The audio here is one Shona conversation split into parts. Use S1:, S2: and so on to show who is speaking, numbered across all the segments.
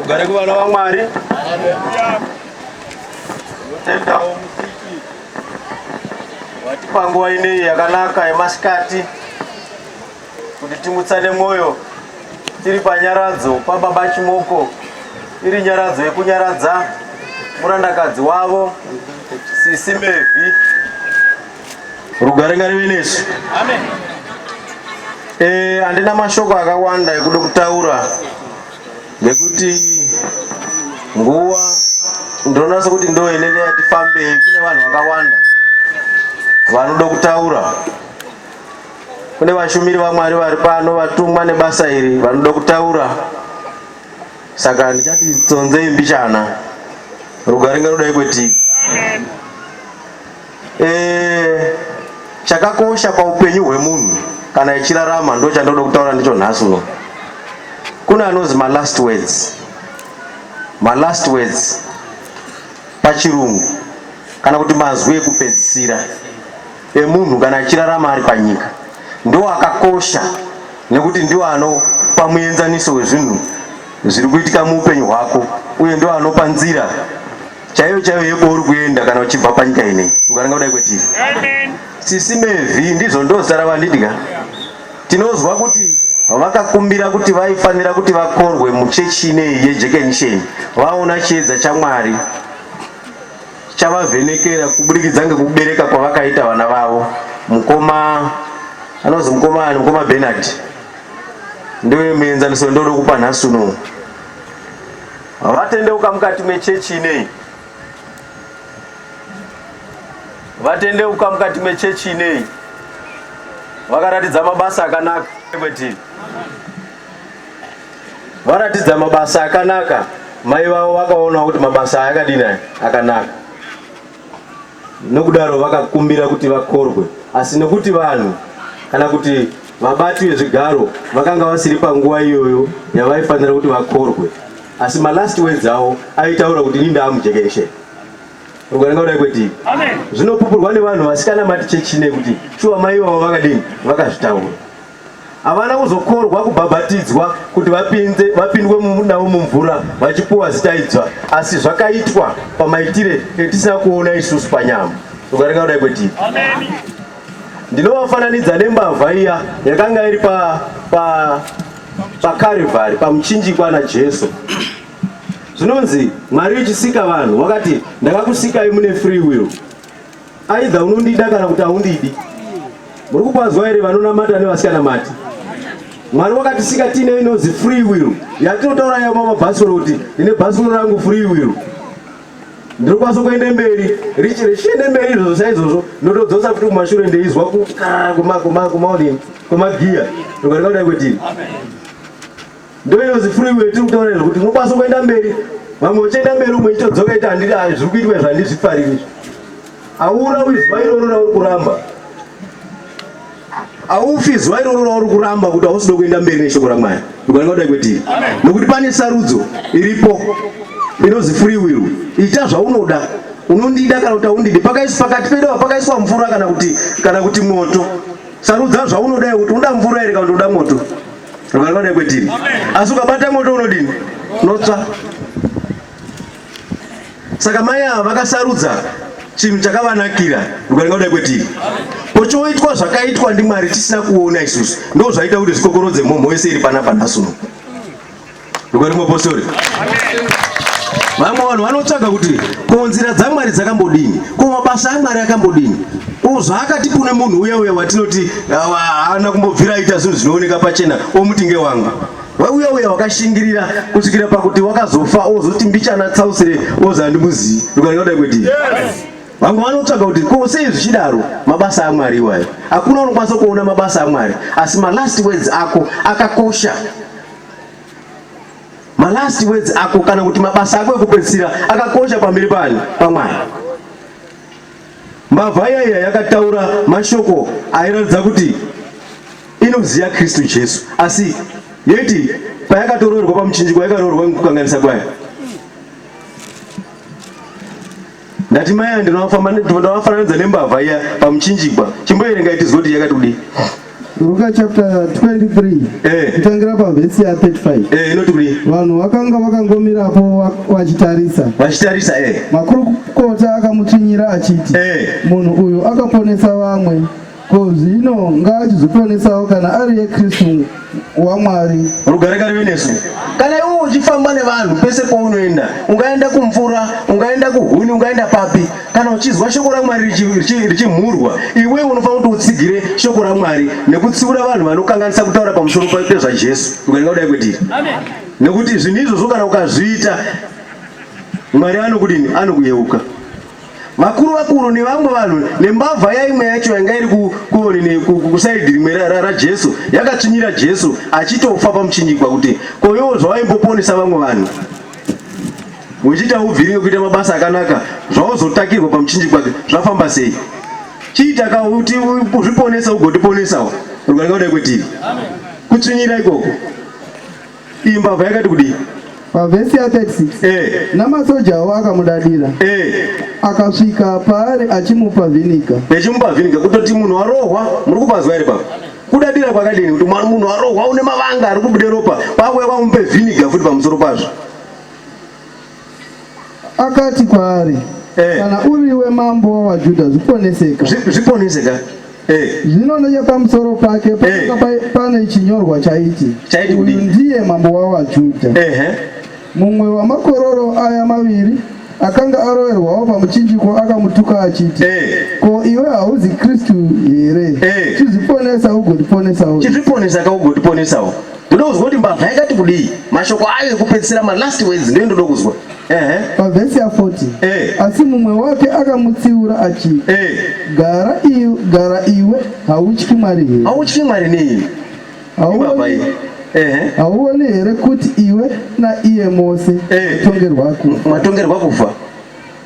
S1: Ugare kuvana vaMwari. Tinotendawo musiki watipa nguva ineyi yakanaka yemasikati kuti timutsane mwoyo tiri panyaradzo paBaba Chimoko, iri nyaradzo yekunyaradza murandakadzi wavo Sisi Mevhi. Rugare ngarive nesu.
S2: Amen. Eh,
S1: andina mashoko akawanda ekuda kutaura nekuti nguva ndonasa kuti ndo inenge yati fambei kune vanhu vakawanda vanoda kutaura kune vashumiri vamwari vari pano vatumwa nebasa iri vanoda kutaura saka ndichati tsonzei mbichana rugaringa rudai kwetiki Eh, chakakosha paupenyu hwemunhu kana ichirarama ndo chandoda kutaura ndicho nhasi uno. Kuna anozi ma last words. Ma last words pachirungu kana kuti mazwi ekupedzisira emunhu kana achirarama ari panyika ndiwo akakosha nekuti ndiwo anopa muenzaniso wezvinhu zviri kuitika muupenyu hwako uye ndiwo anopa nzira chaiyo chaiyo yekwauri kuenda kana uchibva panyika inei ukaranga kudai kwetiri sisi mevhi ndizvo ndozita ravandidya tinonzwa kuti vakakumbira kuti vaifanira kuti vakorwe muchechi inei yejekenisheni vaona chiedza chamwari chavavhenekera kuburikidza ngekubereka kwavakaita vana vavo mukoma anonzi mukoma ani mukoma benard ndoyo muenzaniso ndodo kupa nhasi unowu Vatendeuka mukati mechechi inei? Vatendeuka mukati mechechi inei? Vakaratidza mabasa akanaka kwetiri. Varatidza mabasa akanaka, mai vavo vakaona kuti mabasa ayakadini akanaka. Nokudaro vakakumbira kuti vakorwe, asi nokuti vanhu kana kuti vabati vezvigaro vakanga vasiri panguva iyoyo yavaifanira kuti vakorwe, asi malast words avo aitaura kuti ini ndaamujekereshe rugaringa kudai kwedii. Zvinopupurwa nevanhu vasikanamati chechi nekuti shuwa mai ivavo vakadini vakazvitaura. Havana kuzokorwa kubhabhatidzwa kuti vapinde, vapindwe navo mumvura vachipuwa zita idzva, asi zvakaitwa pamaitire etisina kuona isusu panyama. Ukaringa kudai kwetiri. Ndinovafananidza nembavha iya yakanga iri pa, pa, pakarivari pamuchinjikwa naJesu zvinonzi mwari uchisika vanhu wakati ndakakusikai mune free will Aidha unondida kana kuti haundidi. Muri kukwazwa here vanonamata nevasikanamati? Mwari wakatisika tiine inonzi free will yatinotaura yayo mamabhasuro kuti ndine bhasuro rangu free will ndiri kukwanisa kuende mberi richi richiende mberi izvozvo saizvozvo ndotodzosa kuti kumashure ndeizwa kukaa kumaonini kwemagiya ndokandikadai kwetini Ndoyo zifuriwe tiri kutaura izvo kuti unokwanisa kuenda mberi vamwe uchienda mberi umwe chitodzoka ita handiri ayo zviri kuitwa izvo handizvifariri izvo aura uyu zuva iroro rauri kuramba aufi zuva iroro rauri kuramba kuti hausida kuenda mberi neshoko ramwari ukananga kudai kwetiri nokuti pane sarudzo iripo inonzi free will ita zvaunoda unondida kana kuti aundidi pakaisu pakati pedu pakaiswa mvura kana kuti kana kuti moto sarudza zvaunoda kuti unoda mvura here kana kuti unoda moto Ropa rinoda kwetini. Asi ukabata moto unodini? Unotsva. Saka mai ava vakasarudza chinhu chakavanakira ukaringa kudai kwetiri pochoitwa zvakaitwa ndimwari tisina kuona isusu ndo zvaita kuti zvikokorodze mhomho yese iri panapa nhasuno Ndikwani muapostori? Vamwe vanhu vanotsvaga kuti ko nzira dzaMwari dzakambodini, ko mabasa aMwari akambodini, ko zvaakati kune munhu uya uya watinoti haana kumbobvira aita zvinhu zvinooneka pachena omuti ngewanga wauya uya wakashingirira kusvikira pakuti wakazofa ozoti mbichana tsausire ozi handimuzivi ndikanaodai kwedii vamwe vanotsvaga kuti ko sei zvichidaro mabasa amwari iwayo hakuna unokwanisa kuona mabasa amwari asi malast words ako akakosha malast words ako kana kuti mabasa ako ekupedzisira akakosha pamberi pani pamwari mbavha yaiya yakataura mashoko airatidza kuti inoziva kristu jesu asi yoiti payakatoroorwa pamuchinjiko yakaroorwa nekukanganisa kwayo ndati mai aya ndinovafananidza nembavha iya pamuchinjikwa chimboerengai tizwe kuti yakati kudii
S2: Luka chapter 23 eh. kutangira pavhesi ya 35 eh, inoti kudii vanhu
S1: vakanga
S2: vakangomirapo vachitarisa vachitarisa eh. makurukota akamutsvinyira achiti eh. munhu uyu akaponesa vamwe Ko zvino ngaachizotionesawo kana ari yeKristu waMwari. Rugare ngarive
S1: nesu. Kana iwe uchifamba nevanhu pese paunoenda, ungaenda kumvura, ungaenda kuhuni, ungaenda papi, kana uchizwa shoko raMwari richimhurwa, iwe unofanira kuti utsigire shoko raMwari nekutsiura vanhu vanokanganisa kutaura pamusoro pezvaJesu. Rugare ngaudai kwetiri. Nekuti zvinhu izvozvo kana ukazviita, Mwari anokudini? Anokuyeuka. vakuru vakuru nevamwe vanhu nembavha yaimwe yacho yanga iri kusaidi rimwe rajesu yakatsvinyira jesu achitofa pamuchinjikwa kuti koiwo zvawaimboponesa vamwe vanhu wechiita ubviri wekuita mabasa akanaka zvauzotakirwa pamuchinjikwa zvafamba sei chiita ka kuti uzviponesa ugotiponesawo rugarika kudai kwetivi kutsvinyira ikoko Iyi mbavha yakati kudii? Pavhesi ya 36
S2: eh. namasoja awo akamudadira eh. akasvika paari achimupa vhinika achimupa vhinika kutoti
S1: munhu arohwa muri kupazwa here pava kudadira kwakadini kuti munhu arohwa une mavanga ari kubude ropa kwakuya kwamupe vhiniga futi pamusoro pazvo
S2: Akati kwaari, Eh. Kana uriwe mambo wavaJudha, zviponeseka. Zvi- Zviponeseka. Eh. Zvino nechepamusoro pake pakanga pa- pane chinyorwa chaiti, Chaiti Uyu kudini? ndiye mambo wavaJudha. Ehe. Mumwe wamakororo aya maviri akanga aroverwawo pamuchinjiko akamutuka achiti, Eh. Ko iwe hauzi Kristu here? Eh. Chizviponesa ugotiponesawo. Chizviponesaka
S1: ugotiponesawo. Ndoda kuzwa kuti mbavha yakati kudii. Mashoko ayo ekupedzisira ma last words ndiyo ndoda kuzwa. Ehe. Pavhesi ya
S2: 40. Eh. Asi mumwe wake akamutsiura achiti. Eh. Gara iwe, gara iwe, hautyi Mwari here? Hautyi Mwari nei?
S1: Hauoni. Ehe.
S2: Hauoni here kuti iwe na iye mose eh. matongerwa kufa.
S1: Matongerwa kufa.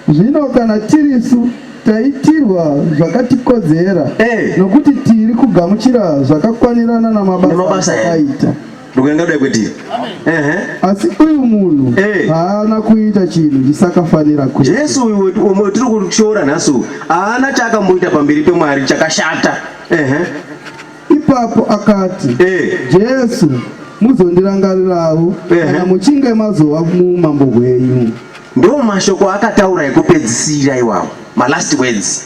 S1: Zvino
S2: kana tirisu taitirwa zvakatikodzera Eh. nokuti tiri kugamuchira zvakakwanirana namabasa Namabasa here? akaita Ndokuenda kudai kwedii?
S1: Ehe. asi
S2: uyu munhu Eh. haana kuita chinhu chisakafanira kuita Jesu uyu wetu- umwe
S1: tiri kushora nhasi uyu haana chaakamboita pamberi pemwari chakashata. Ehe. Ipapo
S2: akati, eh. Jesu, muzondirangarirawo kana muchinge mazova muumambo hwenyu. Ndo mashoko
S1: akataura ekupedzisira iwawo, malast words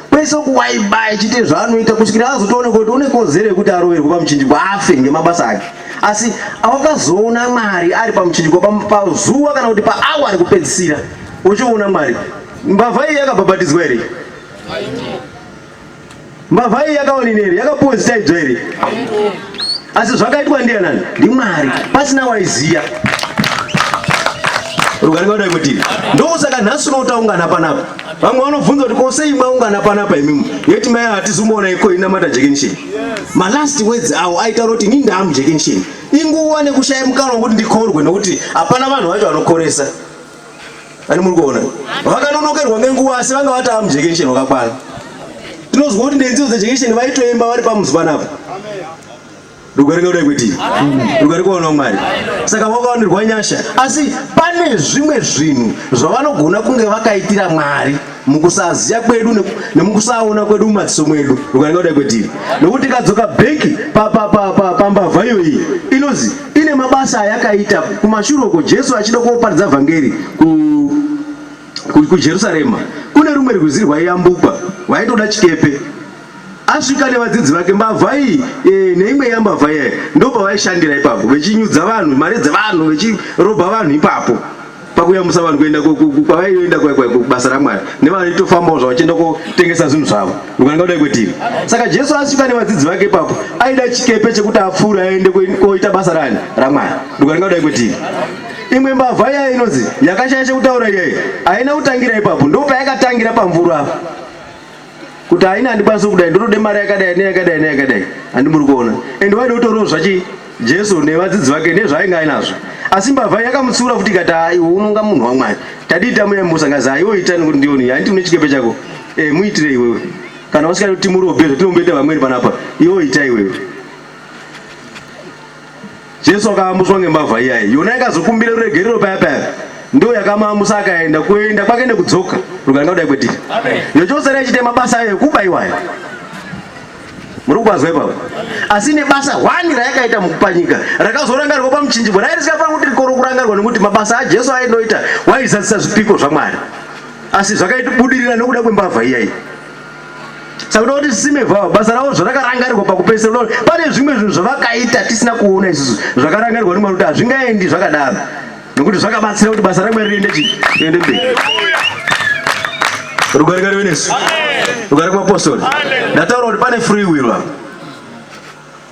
S1: kwese kuwaiba achiite zvaanoita kusvikira azotooneka kuti une kodzero yekuti aroverwe pamuchinjiko afe ngemabasa ake asi awakazoona mwari ari pamuchinjiko pazuva kana kuti paawa ari kupedzisira uchiona mwari mbavha iyi yakabhabhatidzwa here Mbavha iyi yakaonini here? Yakapuwa zita idzo here? Asi zvakaitwa ndianani? NdiMwari. Pasina waiziya. Rugare ngaudai kuti ndosaka nhasi uno taungana panapa. Vamwe vanobvunza kuti ko sei mwaungana panapa imimi? Yeti mai hatizomuona iko inamata jekenisheni. Ma last words awo aitaura kuti ini ndamu jekenisheni. Inguva nekushaya mukana wekuti ndikorwe nekuti hapana vanhu vacho vanokoresa. ani muri kuona vakanonokerwa nenguva asi vanga vatava mujekesheni wakakwana tinozwa kuti ndenziyo dzejekesheni vaitoimba vari pamuzi panapa rugare kudai kuti rugare kuona mwari saka vakawanirwa nyasha asi pane zvimwe zvinhu zvavanogona kunge vakaitira mwari mukusaziya kwedu nemukusaona kwedu mumadziso mwedu ukanenge kudai kwetiri nokuti ikadzoka bheki pambavha iyoyi inozi ine mabasa ayakaita kumashure uko jesu achida kuoparidza vhangeri kujerusarema kune rumwe rwizi rwaiyambukwa rwaitoda chikepe Asvika nevadzidzi vake mbavha iyi e, neimwe yambavha iyayi ndopa vaishandira ipapo vechinyudza vanhu mari dzevanhu vechirobha vanhu ipapo pakuyambusa vanhu kuenda kwavaienda kubasa ramwari nevanoitofambawo zvavo vachienda kotengesa zvinhu zvavo ukananga kudai kwetiri saka jesu asvika nevadzidzi vake ipapo aida chikepe chekuti apfuure aende koita basa rani ramwari ukananga kudai kwetiri imwe mbavha iyayo inonzi yakashaya chekutaura iyayo haina kutangira ipapo ndopayakatangira pamvura apa kuti haina handikwanisi kudai ndotode mari yakadai neyakadai neyakadai handi muri kuona and waida kutoriwo zvachi jesu nevadzidzi vake nezvaainge ainazvo asi mbavha yakamutsiura futi ikati aiwe unonga munhu wamwari tadii tamuyamusa ngazi aiwe itani kuti ndioni handiti une chikepe chako e, muitire iwewe kana usikati kuti murobe zvatinomboita vamweni panapa iwo ita iwewe Jesu akaamuswa ngembavha iya iyi, yona ikazokumbira ruregerero paya paya ndo yakamaamusa akaenda kuenda kwake nekudzoka ruganga kudai kwedii yochosera ichiita mabasa ayo ekuba iwayo muri kukwazwa ipapo asi nebasa hwani rayakaita mukupanyika rakazorangarwa pamuchinjibwa rai risikafanira kuti rikoro kurangarwa nekuti mabasa ajesu ainoita waizadzisa zvipiko zvamwari asi zvakaita budirira nekuda kwembavha iyayi saka unoda kuti sime vavo basa ravo zvarakarangarirwa pakupedzisira unoda kuti pane zvimwe zvinhu zvavakaita tisina kuona isusu zvakarangarirwa nemwari kuti hazvingaendi zvakadaro nokuti zvakabatsira kuti basa ramwari riende chi riende mberi rugare ngarive nesu rugare kumapostori ndataura kuti pane free will apa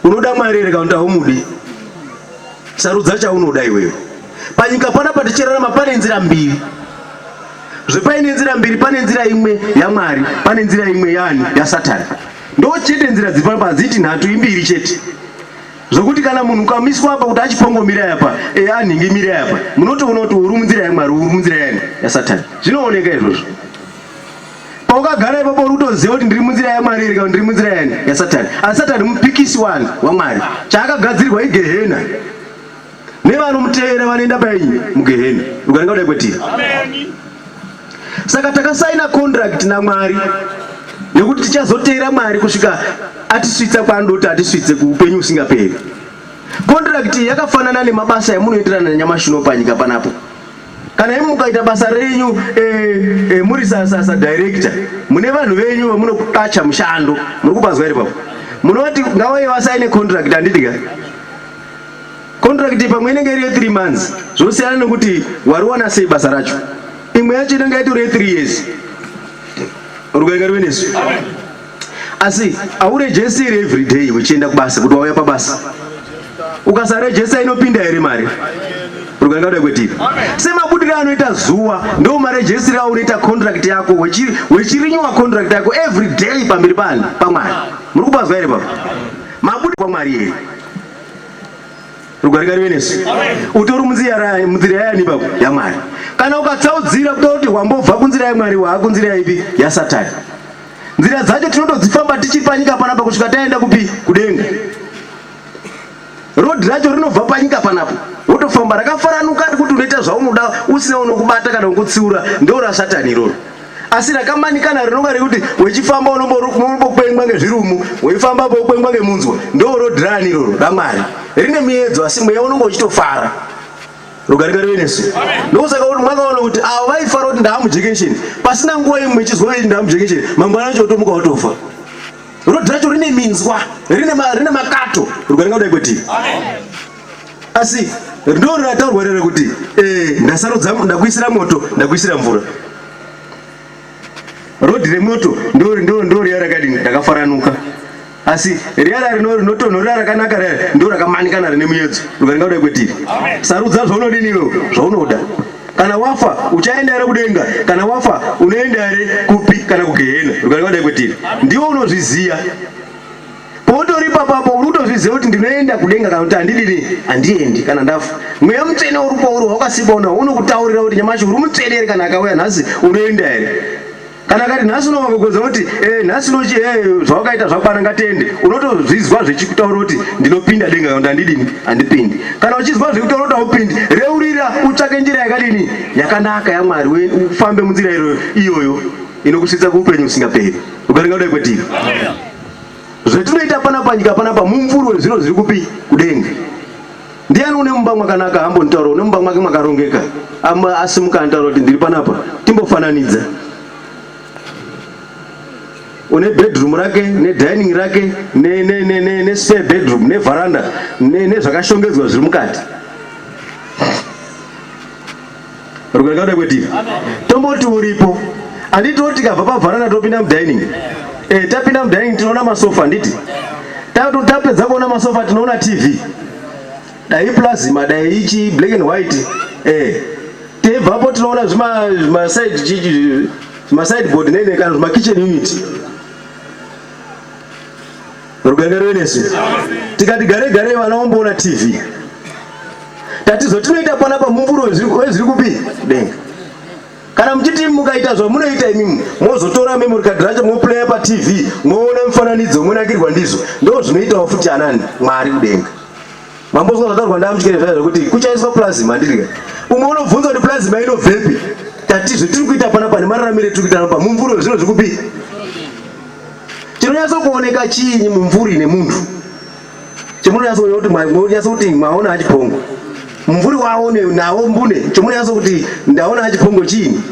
S1: Unoda Mwari here kana kuti haumudi? Sarudza chaunoda iwewe. Panyika panapa tichirarama pane nzira mbiri zvepaine nzira mbiri pane nzira imwe yamwari pane nzira imwe yani yasatani ndo chete nzira dzipapa hadziti nhatu imbiri chete zvokuti kana munhu ukamiswa apa kuti achipongomira yapa e anhingi mira yapa munotoona kuti uri munzira yamwari uri munzira yani yasatani zvinooneka izvozvo paukagara ipapo uri kutoziva kuti ndiri munzira yamwari here kana ndiri munzira yani yasatani asi satani mupikisi wani wamwari chaakagadzirwa igehena nevanomutevera vanoenda painyi mugehena ukanenga kudai kwetiri saka takasaina contract namwari nekuti tichazoteera mwari kusvika atisvitsa kwaanodoti atisvitse kuupenyu usingaperi contract yakafanana nemabasa yamunoenderana nanyamashi uno panyika panapo Kana imi mukaita basa renyu e, e, muri sasasa director mune vanhu venyu vamunokacha mushando muri kubanzwa here papo munoti ngawai vasaine contract handiti ka contract pamwe inenge iri ye3 months zvosiyana nekuti wariwana sei basa racho imwe yacho inenge yatori ye3 years rukainga rive nesu asi aurejesi here everyday uchienda kubasa kuti wauya pabasa ukasarejesa inopinda here mari rukaringa kuda kweti semabudiro anoita zuwa ndo marejesi rao unoita contract yako wechirinyuwa contract yako every day pamberi pani pamwari muri kupazwa here papa mabudi kwamwari here rukaringa rive nesu utori munzira yani papa yamwari kana ukatsaudzira kuda kuti wambobva kunzira yamwari waakunzira ipi yasatani Nzira dzacho tinotodzifamba tichiri panyika panapa kusvika taenda kupi? Kudenga. Road racho rinobva panyika panapo wotofamba rakafaranuka kuti unoita zvaunoda usina unokubata kana kukutsiura ndeura satani iroro asi rakamanikana rinonga rekuti wechifamba unombokwengwa ngezvirumu weifamba pokwengwa ngemunzwa ndo road rani iroro ramwari rine miedzo asi mweya unonga uchitofara rugare ngarive nesu ndokusaka kuti mwakaona kuti avo vaifara kuti ndaamujekensheni pasina nguva imwe chizwa veiti ndaamujekensheni mangwana acho otomuka watofa rodhi racho rine minzwa rine makato rugare ngaudai kwetivi asi ndo rataurwa rere kuti eh, ndasarudza ndakuisira moto ndakuisira mvura Road remoto ndo ndo ndo riya rakadini rakafaranuka. Asi riya rino rinotonhorera rakanaka riya ndo rakamanikana rine muyedzo. Rukaringa kudai kwetiri. Sarudza zvaunodini iwe zvaunoda. Kana wafa uchaenda here kudenga? Kana wafa unoenda here kupi kana kugehena? Rukaringa kudai kwetiri. Ndiwo unozviziya. Pautori ipapapo uri kutozviziva kuti ndinoenda kudenga kana kuti handidini handiendi kana ndafa. Mweya mutsvene uri pauri wawakasikwa una unokutaurira kuti nyamashi uri mutsvene here kana akauya nhasi unoenda here. Kana akati nhasi unovagogodza kuti eh nhasi unochi eh zvawakaita zvakwana ngatende unotozvizwa zvechikutaura kuti ndinopinda denga kana kuti handidini handipindi. Kana uchizwa zvekutaura kuti haupindi reurira utsvake njira yakadini yakanaka yaMwari we ufambe munzira iyoyo inokusvitsa kuupenyu usingaperi. Ukaringa kudai kwetiri. zvetinoita pana panyika panapa mumvuri wezviro zviri kupi kudenga ndiani une mumba mwakanaka ambonitaura une mumba mwake mwakarongeka asimuka anitaura kuti ndiri panapa timbofananidza une bedroom rake nedining rake nespare bedroom nevharanda nezvakashongedzwa zviri mukati Rugarika kuda kwedivi. Tomboti uripo. Anditi oti kabva pavharana topinda mudining. Eh, tapinda mudining tinoona masofa anditi. Tapedza kuona masofa tinoona TV. Dai plasma dai ichi black and white. Eh. Tebvapo tinoona zvima zvima side chichi zvima side board nene kana zvima kitchen unit. Ruganga rwenesu tikati gare gare vana vomboona TV tatizotinoita pana pamumvuri wezviri kupi denga kana muchiti mukaita zvamunoita imimi mozotora memory card racho moplaya patv moona mifananidzo monakirwa ndizvo ndo zvinoitawo futi anani mwari kudenga mambozwa zvataurwa ndamuchikere zvaya zvekuti kuchaiswa plasma ndirika umwe unobvunza kuti plasma inobvepi tatizve tiri kuita pana pane mararamire tiri kuita pamumvuri wezviro zviri kupi Chinonyatso kuoneka chiinyi mumvuri nemunhu chemunonyatso kuona kuti munonyatso kuti mwaona achipongo mumvuri wawo nawo mbune chemunonyatso kuti ndaona achipongo chiinyi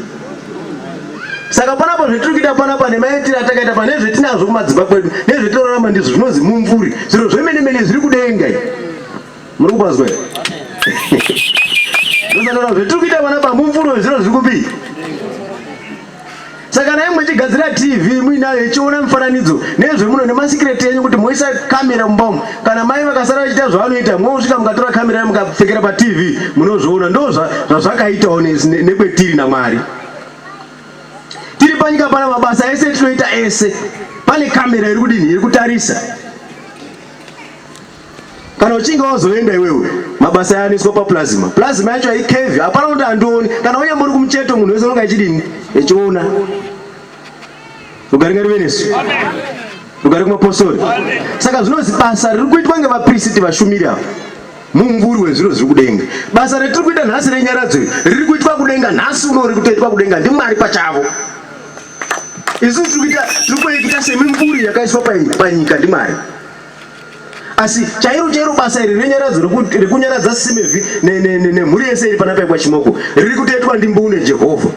S1: saka panapo zvetiri kuita panapa nemaitiro atakaita pa nezvetinazvo kumadzimba kwedu nezvetinorarama ndizvo zvinonzi mumvuri zviro zvemene mene zviri kudenga muri kupazwa zvatiri kuita panapa mumvuri wezviro zviri kupi saka nai mwechigadzira tv muinayo ichiona mifananidzo nezve muno nemasikireti enyu kuti moisa kamera mumba umu kana mai vakasara vachiita zvavanoita mosvika mukatora kamera ya mukapfekera patv munozviona ndo zvazvakaitawo nekwetiri namwari tiri panyika pana mabasa ese tinoita ese pane kamera iri kudini iri kutarisa kana uchinge wazoenda iwewe mabasa ayaniswa paplasma plasma yacho haikevi hapana kuti handioni kana unyambori kumucheto munhu wese unonga achidini echiona rugare ngarive nesu rugare kumapostori saka zvinozi basa riri kuitwa ngevapristi vashumiri ava mumvuri wezviro zviri kudenga basa retiri kuita nhasi renyaradzo riri kuitwa kudenga nhasi uno riri kutoitwa kudenga ndimwari pachavo isu tiri kuita semimvuri yakaiswa panyika ndimwari asi chairo chairo basa iri renyaradzo rekunyaradza simevi nemhuri yese iri pana paikwa chimoko riri kutoitwa ndimbune jehovha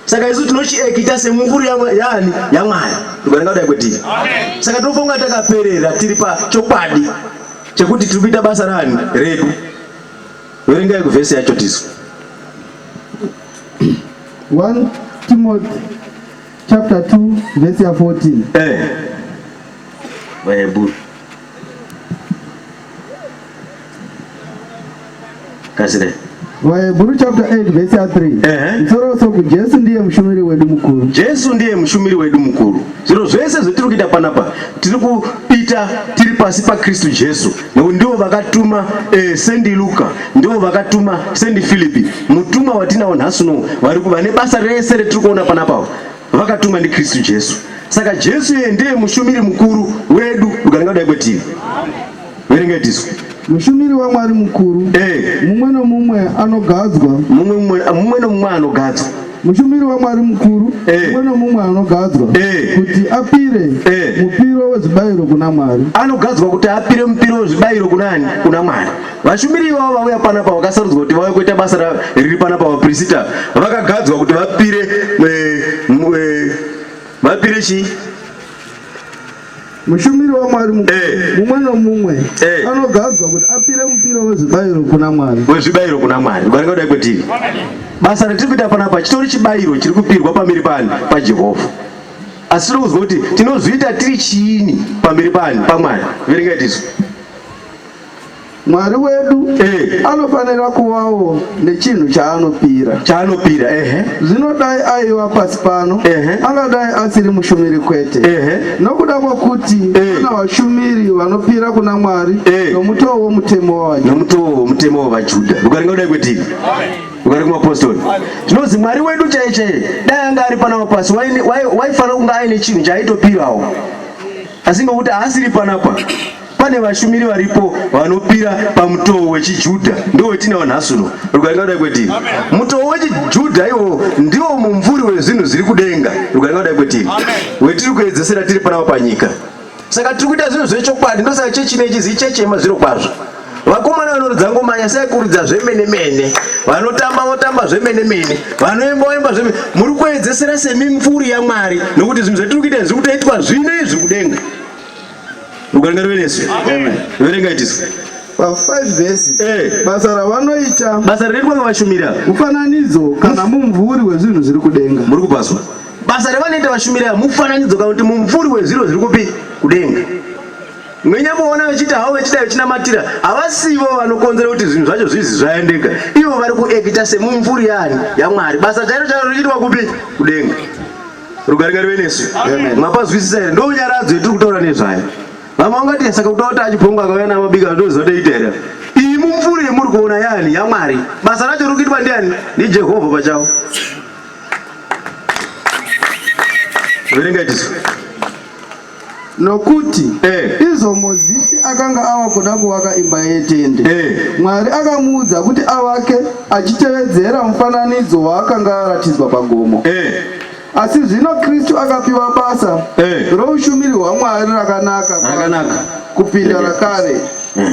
S1: saka isu tinochiekita semukuru yaani yamwari ndikaringa kudai kwetiri saka tinofunga takaperera tiri pachokwadi chekuti tiri kuita basa rani redu verengai kuvhesi yacho tisu 1
S2: timothy chapter 2 vhesi ya 14 eh. Baibul.
S1: Kasire. Vahebhuru
S2: chapter 8 verse 3. Ehe. Msoro soku Jesu ndiye mushumiri wedu mukuru. Jesu ndiye mushumiri
S1: wedu mukuru. Zviro zvese zvetiri kuita panapa tiri kuita tiri pasi paKristu Jesu nekuti ndivo vakatuma eh, sendi Luka ndivo vakatuma sendi Filipi mutumwa watinawo nhasi unowu vari kuva nebasa rese retiri kuona panapa vakatumwa ndiKristu Jesu. Saka Jesu iye ndiye mushumiri mukuru wedu ukananga kudai kwetiri. Verengai tisu. Mushumiri waMwari
S2: mukuru. Eh. Mumwe nomumwe anogadzwa. Mumwe mumwe mumwe
S1: nomumwe anogadzwa. Mushumiri waMwari
S2: mukuru eh. mumwe eh. nomumwe anogadzwa eh. kuti apire eh. mupiro wezvibayiro kuna Mwari. Anogadzwa kuti apire
S1: mupiro wezvibayiro kunani? Kuna Mwari. Vashumiri ivavo vauya panapa vakasarudzwa kuti vauye kuita basa riri panapa vaprisita vakagadzwa kuti vapire eh, eh, vapire chii
S2: mushumiri wamwari eh. mumwe nomumwe eh. anogadzwa kuti apire mupiro wezvibayiro kuna mwari wezvibayiro kuna mwari
S1: vanenge kudai kwetiri basa ratiri kuita panapa chitori chibayiro chiri kupirwa pamiri pani pajehovha asi tiri kuzwa kuti tinozviita tiri chiini pamiri pani pamwari verengai tisu Mwari
S2: wedu eh, anofanira kuvawo nechinhu chaanopira chaanopira ehe zvino dai aiva pasi pano Ehe. angadai asiri mushumiri kwete ehe nokuda kwokuti Eh. kuna vashumiri vanopira kuna mwari Eh. nomutoo womutemo wavanhu nomutoo womutemo wavajuda
S1: ukaringa kudai kwetiri ukaringa kumapostori zvinonzi mwari wedu chaiye chaiye dai anga ari panapa pasi waine- wai- waifanira kunge aine chinhu chaaitopirawo asi ngokuti haasiri panapa pane vashumiri varipo vanopira pamutoo wechijudha ndo wetinawo nhasi uno rukaringa kudai kwetiri mutoo wechijudha iwo ndiwo mumvuri wezvinhu zviri kudenga rukaringa kudai kwetiri wetiri kuedzesera tiri panapa panyika saka tiri kuita zvinhu zvechokwadi ndosaka chechi nechizi ichechi yemazviro kwazvo vakomana vanoridza ngoma nyasi yaikuridza zvemene mene vanotamba votamba zvemene mene vanoimba voimba zvemene muri kuedzesera semimvuri yamwari nokuti zvinhu zvatiri kuita zviri kutoitwa zvino izvi kudenga Rugare ruve nesu. Verenga itisu. Pa 5
S2: verses. Eh. Basa ravanoita. Basa rinoitwa ngavashumira.
S1: Mufananidzo
S2: kana mumvuri wezvinhu zviri kudenga. Muri kupaswa.
S1: Basa ravanoita vashumira mufananidzo kana kuti mumvuri wezviro zviri kupi kudenga. Mwenyamuona vachiti havo vachida vachinamatira havasivo vanokonzera kuti zvinhu zvacho zvizi zvaendeka. Ivo vari kuekita semumvuri yani yaMwari. Basa chairo chairo richiitwa kupi kudenga. rugare ngarive nesu mapazwisisa here ndo nyaradzo yetiri kutaura nezvayo vamwe vangati saka kuda kuti achibhongo akauya namabika ndozotoita here iyi mumvuri yemuri kuona yani yamwari basa racho riri kuitwa ndiani ndijehovha pachavo verenga itiso nokuti
S2: eh. izvo Mozisi akanga ava kuda kuvaka imba yetende eh. Mwari akamuudza kuti avake achitevedzera mufananidzo waakanga aratidzwa pagomo eh. asi zvino Kristu akapiwa basa eh. roushumiri hwaMwari rakanaka, rakanaka kupinda rakare eh.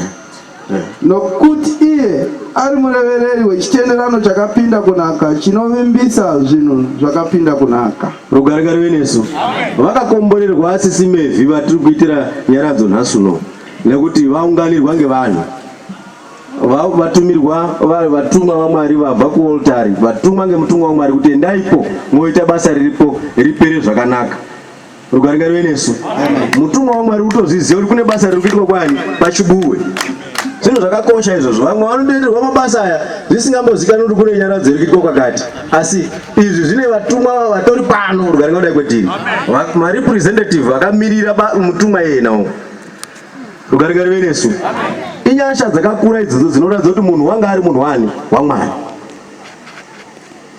S2: nokuti iye ari murevereri wechitenderano chakapinda kunaka chinovimbisa zvinhu zvakapinda kunaka rugare ngarive nesu
S1: vakakomborerwa asisi mevhi vatiri kuitira nyaradzo nhasi uno nekuti vaunganirwa ngevanhu vatumirwa vatumwa vamwari vabva kuoltari vatumwa ngemutumwa wamwari kuti endaipo moita basa riripo ripere zvakanaka Rugare ngarive nesu. Mutumwa waMwari utozviziva kuti kune basa riri kuitwa kwani pachibuwe. Zvinhu zvakakosha izvozvo. Vamwe vanotoitirwa mabasa aya zvisingambozikanwi kuti kune nyaradzo iri kuitwa kwakati. Asi izvi zvine vatumwa vatori pano rugare ngadai kwetiri. Marepresentative vakamirira mutumwa iyena uwo. Rugare ngarive nesu. Inyasha dzakakura idzodzo dzinoratidza kuti munhu wanga ari munhu wani waMwari.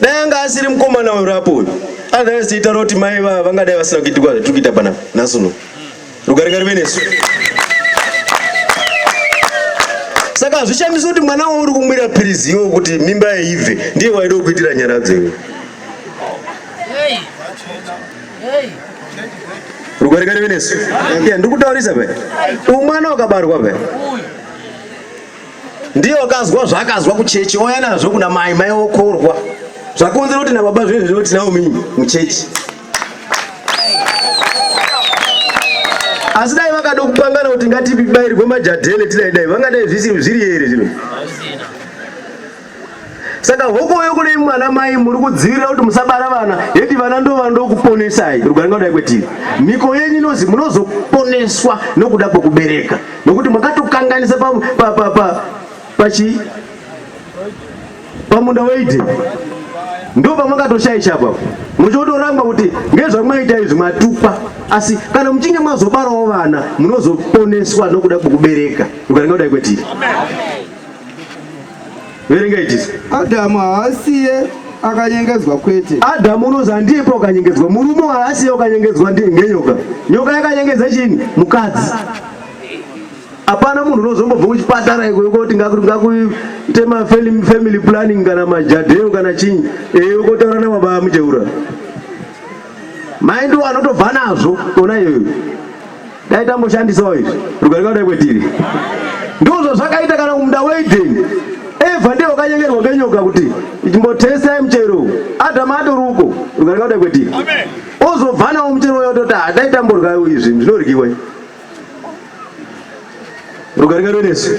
S1: Dai anga asiri mkomana uyu rapo uyu. Otherwise tiita roti mai va vangadai vasina kuitikwa zvatiri kuita pana nhasi uno. Rugare ngarive nesu. Saka hazvishamisi kuti mwana wauri kumwira pirizi iwo kuti mimba yaibve ndiye waida kuitira nyaradzo iwe. Hey. Hey. Rugare ngarive nesu. Yeah, ndikutaurisa pe. Umwana wakabarwa pe. Uyu. ndiye wakazwa zvaakazwa kuchechi ouya nazvo kuna mai mai okorwa zvakonzera kuti nababa zvinhu zvino tinawo mii muchechi asi dai vakada kupangana kuti ngatibairwe majadhele tidai dai vangadai zviri here zvino Saka hokoyo kune mwana mai muri kudzivirira kuti musabara vana yeti vana ndo vanoda kuponesai rugare ngauda kwetiri miko yenyu inozi munozoponeswa nokuda kwekubereka nokuti makatokanganisa pa, pa, pa, pa, pachi pamunda weidi ndo pamakatoshaisha apo muchotoramba kuti ngezvamwaita izvi matupa asi kana muchinge mazobarawo vana munozoponeswa nokuda kwekubereka rugare ngauda kwetiri Amen. verenga ichisi adhamu haasiye
S2: akanyengedzwa kwete adhamu unonzi handiyepo
S1: akanyengedzwa murume haasiye akanyengedzwa ngenyoka nyoka yakanyengedza chini mukadzi hapana munhu unozombobva kuchipatara ikoti ngakuite mafamily planning kana majadheu kana chii ee ukotaura nababa mucheura mai ndiwo anotobva nazvo ona iyoyo Dai tamboshandisawo izvi rugare kudai kwetiri. Ndizvo zvazvakaita kana kumunda weEdheni. Evha ndiye wakanyengerwa ngenyoka kuti chimbotestai muchero uyu. Adhamu atori uko rugare kudai kwetiri. Ozobva nawo muchero uyo ototi ah dai tamboryawo izvi zvinoryiwe. Rugare ngaro nesu.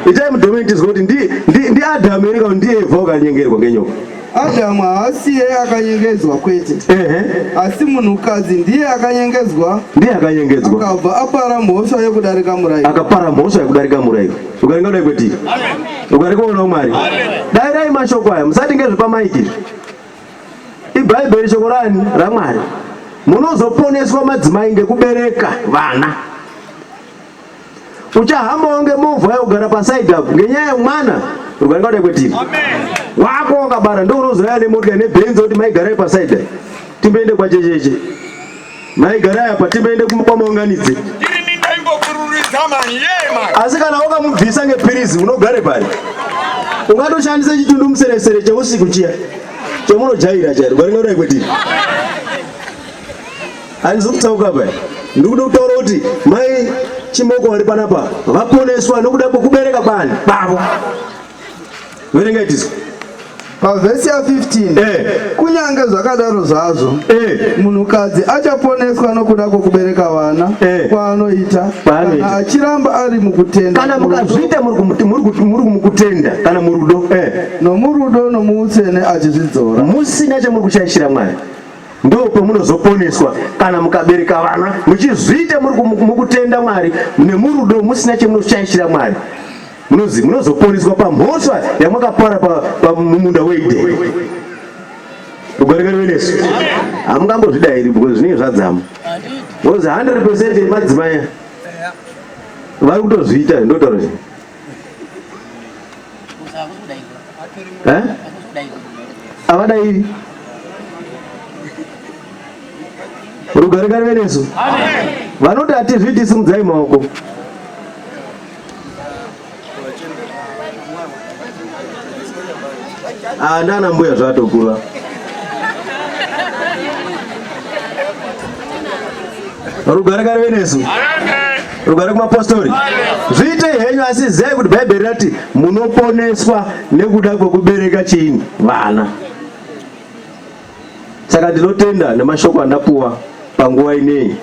S1: Itai mudomeni tizwe kuti ndi ndi ndi Adam here kana ndiye Eva wakanyengerwa ngenyoka. Adam haasi
S2: iye akanyengedzwa kwete. Ehe. Asi munhukadzi ndiye akanyengedzwa. Ndiye akanyengedzwa. Akabva apara mhosva yekudarika murayiro. Akapara mhosva yekudarika murayiro.
S1: Rugare ngaro kwete. Amen. Rugare kwaona Mwari. Amen. Dairai mashoko aya musati ngezvepa mic. Ibhaibheri shoko rani raMwari. Munozoponeswa madzimai ngekubereka vana. uchahambawo ngemovha yogara paside apo ngenyaya yemwana rugare kwadai kwetiri wako wakabara ndo unozouya nemotya nebhenzi kuti maigarai paside timboende kwachecheche maigarai apa timboende kwamaunganidzi asi kana wakamubvisa ngepirizi unogare pari ungatoshandisa chitundu museresere cheusiku chiya chemunojaira chairo rugare kwadai kwetiri Handisi kutauka apa. Ndikuda kutaura kuti mai Chimoko vari panapa vaponeswa nokuda kwekubereka kwani kwavo. Verenga itiso. Pavhesi
S2: ya 15 eh. kunyange zvakadaro zvazvo eh. munhukadzi achaponeswa nokuda kwokubereka vana eh. kwaanoita kana achiramba ari mukutenda kana
S1: mukazviita muri mukutenda kana murudo eh. nomurudo
S2: nomuutsvene achizvidzora musina chamuri
S1: kushaishira mwari ndopamunozoponeswa kana mukabereka vana muchizviita mukutenda mwari nemurudo musina chemunoshaishira mwari munozi munozoponeswa pamhosva yamakapara pamumunda weideni ugorekerewenesu hamungambozvidairi because zvinenge zvadzama because 100 percent yemadzimai vari kutozviita ndotaura eh? avadairi rugare karive nesu vanoti hatizviti simudzai maoko ah, ndana mbuya zvatokura Rugare kare venesu. Rugare kumapostori. Zviite henyu asi zai kuti Bhaibheri rati munoponeswa nekuda kwekubereka chini vana. Saka ndinotenda nemashoko andapuwa panguva ineyi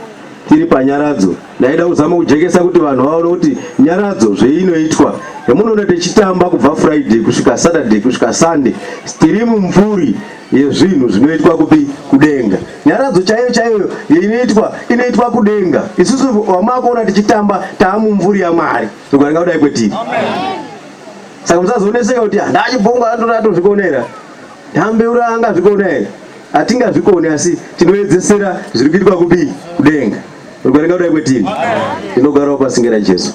S1: tiri panyaradzo ndaida kuzama kujekesa kuti vanhu vaone kuti nyaradzo zveinoitwa yamunoona tichitamba kubva friday kusvika saturday kusvika sunday tiri mumvuri yezvinhu zvinoitwa kupi kudenga nyaradzo chaiyo chaiyo inoitwa inoitwa kudenga isusu wamakuona tichitamba taamumvuri yamwari tikuaringa kudai kwetiri saka musazooneseka kuti ah, ndachibhongo andona atozvikonera ndambeura angazvikona here hatingazvikoni asi tinoedzesera zviri kuitwa kupi kudenga tikuaringa kudai kwetiri tinogarawo pasingera jesu